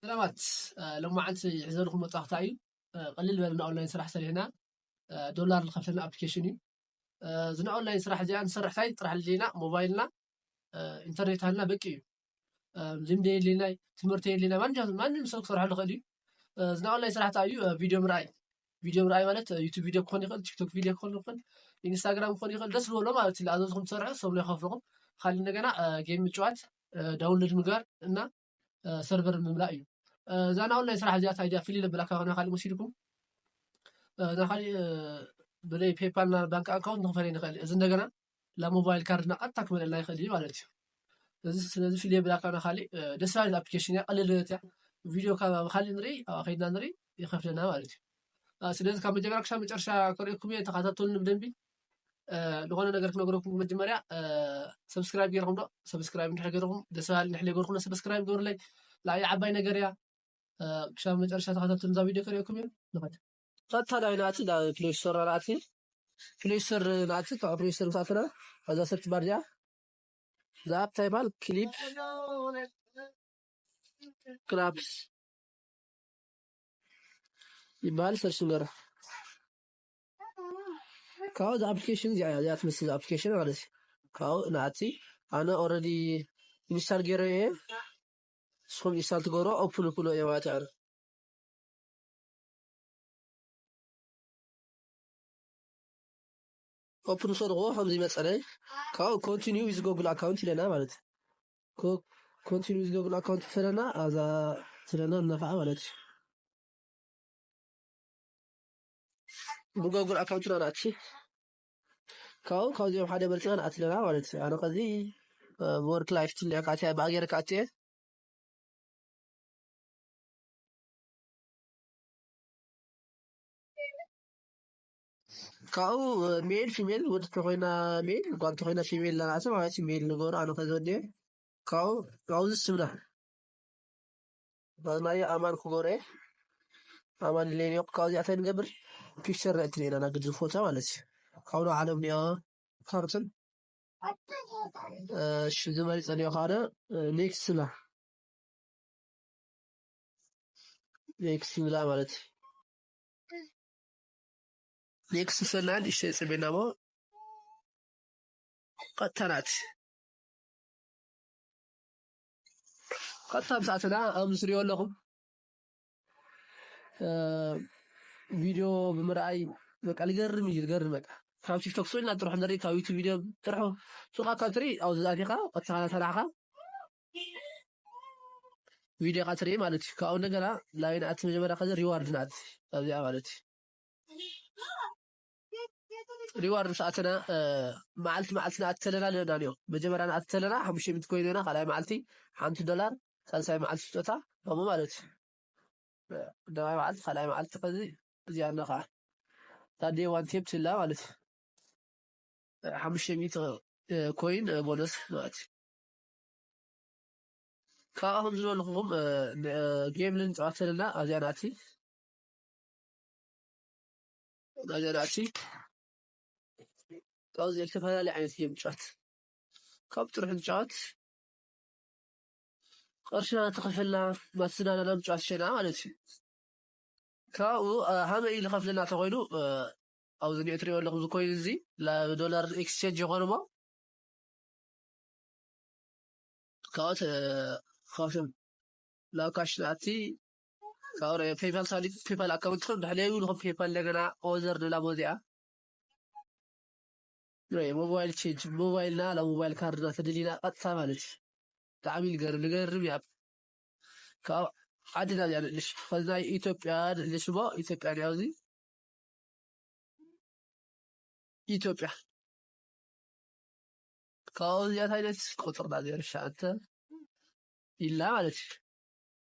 ሰላማት ሎማዓንቲ ሕዘልኹም መጣኽታ እዩ ቐልል በልና ኦንላይን ስራሕ ሰሪሕና ዶላር ዝኸፍለና ኣፕሊኬሽን እዩ እዚ ናይ ኦንላይን ስራሕ እዚኣ ንሰርሕ ታይ ጥራሕ ልልና ሞባይልና ኢንተርኔት ሃልና በቂ እዩ ልምዲ የድልና ትምህርቲ የድልና ማንም ሰብ ክሰርሐሉ ክእል እዩ እዚ ናይ ኦንላይን ስራሕ እንታይ እዩ ቪድዮ ምርኣይ ቪድዮ ምርኣይ ማለት ዩቱብ ቪድዮ ክኾን ይኽእል ቲክቶክ ቪድዮ ክኾን ይኽእል ኢንስታግራም ክኾን ይኽእል ደስ ዝበሎ ማለት እዩ ዝኣዘዝኩም ትሰርሑ ሰብሎ ይኸፍልኹም ካልእ እንደገና ጌም ምጭዋት ዳውንሎድ ምግባር እና ሰርቨር ምምላእ እዩ እዛ ናይ ኦንላይን ስራሕ እዚኣ እንታይ ድያ ፍልይ ነብላ ካብ ናይ ካልእ ወሲድኩም ናይ ካልእ ብዘይ ፔፓል ና ባንክ ኣካውንት ንክፈለ ንኽእል እዚ እንደገና ናብ ሞባይል ካርድ ና ቀጥታ ክመለና ይኽእል እዩ ማለት እዩ እዚ ስለዚ ፍልይ ነብላ ካብ ናይ ካልእ ደስ ባሃሊት ኣፕሊኬሽን እያ ቀልል እያ ቪድዮ ካብ ኣብ ካልእ ንርኢ ኣብ ከይድና ንርኢ ይኸፍለና ማለት እዩ ስለዚ ካብ መጀመርያ ክሳብ መጨረሻ ከርእየኩም እየ ተኸታተሉኒ ብደንቢ ዝኾነ ነገር ክነገረኩም መጀመርያ ሰብስክራይብ ገይርኩም ዶ ሰብስክራይብ እንድሕር ገይርኩም ደስ በሃሊ እንድሕር ገይርኩም ሰብስክራይብ ገበሩለይ ንዓይ ዓባይ ነገር እያ ክሻብ መጨረሻ ተኸታተሉ እዛ ቪድዮ ከሪኦኩም እዩ ንኸድ ቀጥታ ዳይ ናእቲ ፕሌይ ስቶር ናእቲ ፕሌይ ስቶር ናእቲ ካብ ፕሌይ ስቶር ምሳትና እዛ ሰርች ባር እዚኣ እዛ ኣፕ እንታይ ይበሃል ክሊፕ ክላፕስ ይበሃል ሰርች ንገራ ካብኡ እዛ ኣፕሊኬሽን እዚኣ እያ እዚኣ ትመስል እዛ ኣፕሊኬሽን ማለት እዩ ካብኡ ንኣቲ ኣነ ኦልሬዲ ኢንስታል ገይረ እየ ንስኹም ኢንስታል ትገብሮ ኦፕን ክብሎ እየ ማለት እዩ ኦፕን ምስ በልኩዎ ከምዚ መፀለይ ካብኡ ኮንቲኒዩ ዊዝ ጎግል ኣካውንት ይለና ማለት እዩ ኮንቲኒዩ ዊዝ ጎግል ኣካውንት ፈለና ኣዛ ትለና እናኸዓ ማለት እዩ ብጎግል ኣካውንትና ንኣቲ ካብኡ ካብዚኦም ሓደ መርፅና ንኣቲ ኣለና ማለት እዩ ኣነ ከዚ ብወርክ ላይፍ ትልዕካ ኣትያ ብኣ ገይረ ክኣቲ እየ ካብኡ ሜል ፊሜል ወዲ ተኮይና ሜል ጓል ተኮይና ፊሜል ናናእቲ ማለት እዩ ሜል ንገሩ ኣነ ከዚ ወዲ እየ ካብኡ ካብዚ ስምና ባናየ ኣማን ክጎረየ ኣማን ሌን ዮቅ ካብዚ ኣታይ ንገብር ፒክቸር ናይቲ ሌና ናግድ ዝፎታ ማለት እዩ ካብዶ ዓለም ኒያ ካርትን እሺ ዝመሪ ጸልዮ ካነ ኔክስት ላ ኔክስት ንብላ ማለት እዩ ኔክስት ሰናን እሺ ጽቤና ሞ ቀጥታ ናት ቀጥታ ምስ ኣተና ከምዚ ትሪኦ ኣለኹም ቪድዮ ብምርኣይ በቃ ልገርም እዩ ልገርም በቃ ካብ ቲክቶክ ስዑድና ጥራሕ ንርኢ ካብ ዩቱብ ቪድዮ ጥራሕ ሱቃ ካብ ትርኢ ኣብዚ ኣቲኻ ቀጥታ ሰራሕኻ ቪድዮ ካ ትርኢ ማለት እዩ ካብኡ እንደገና ላይን ኣቲ መጀመርያ ከዚ ሪዋርድ ናት ኣብዚኣ ማለት እዩ ሪዋርድ ምስ ኣተና መዓልቲ መዓልቲ ንኣቲ ተለና ንእናንዮ መጀመርያ ንኣቲ ተለና ሓሙሽተ ሚት ኮይኑ ኢና ካልኣይ መዓልቲ ሓንቲ ዶላር ሳልሳይ መዓልቲ ስጦታ ከምኡ ማለት እዩ ደባይ መዓልቲ ካልኣይ መዓልቲ ከዚ እዚኣ ነ ከዓ ታዴ ዋን ቴፕ ትላ ማለት እዩ ሓሙሽተ ሚት ኮይን ቦነስ ማለት እዩ ካብኣ ከም ዝበልኹም ጌም ልንፃወት ተለና ኣብዚኣ ንኣቲ ነገራት ካብዚ ዝተፈላለየ ዓይነት እዮም ጫት ካብ ጥርሑ ጫት ቅርሺ እናተኸፈልና ማስናናናም ጫት ሸና ማለት እዩ ካብኡ ሃመይ ዝኸፍለና ተኮይኑ ኣብዚ ኒዕ ትሪኦ ኣለኹም ዝኮይኑ እዚ ዶላር ኤክስቼንጅ ይኾኑ ሞ ካብኦት ካብቶም ናብ ካሽ ናቲ ፔይፓል ሳሊድ ፔይፓል ኣካውንት ከም ድሕለዩ ንኹም ፔይፓል እንደገና ኦዘር ንላቦ እዚኣ ሞባይል ቼንጅ ሞባይልና ላ ሞባይል ካርድና ተደሊና ቀጥታ ማለት እዩ ብጣዕሚ ንገርም ንገርም እያ ካብ ዓድና እዚኣ ንእልሽ ከዚ ናይ ኢትዮጵያ ንእልሽ እሞ ኢትዮጵያ እያ እዚ ኢትዮጵያ ካብኡ እዚኣ እንታይ ዓይነት ቁጥርና ዜሮ ሸዓተ ኢልና ማለት እዩ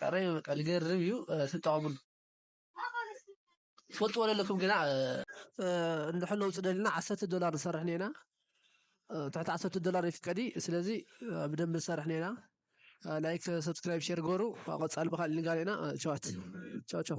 ቃረይ በቃ ልገርም እዩ ትጠቐሙሉ ትፈልጥዎ ዘለኩም ግና እንድሕር ለውጢ ደልና ዓሰርተ ዶላር ንሰርሕ ኔና ትሕቲ ዓሰርተ ዶላር ይፍቀዲ ስለዚ ብደንብ ንሰርሕ ኔና ላይክ ሰብስክራይብ ሼር ጎሩ ቀፃሊ ብካልእ ንጋሌና ቸዋት ቸው ቸው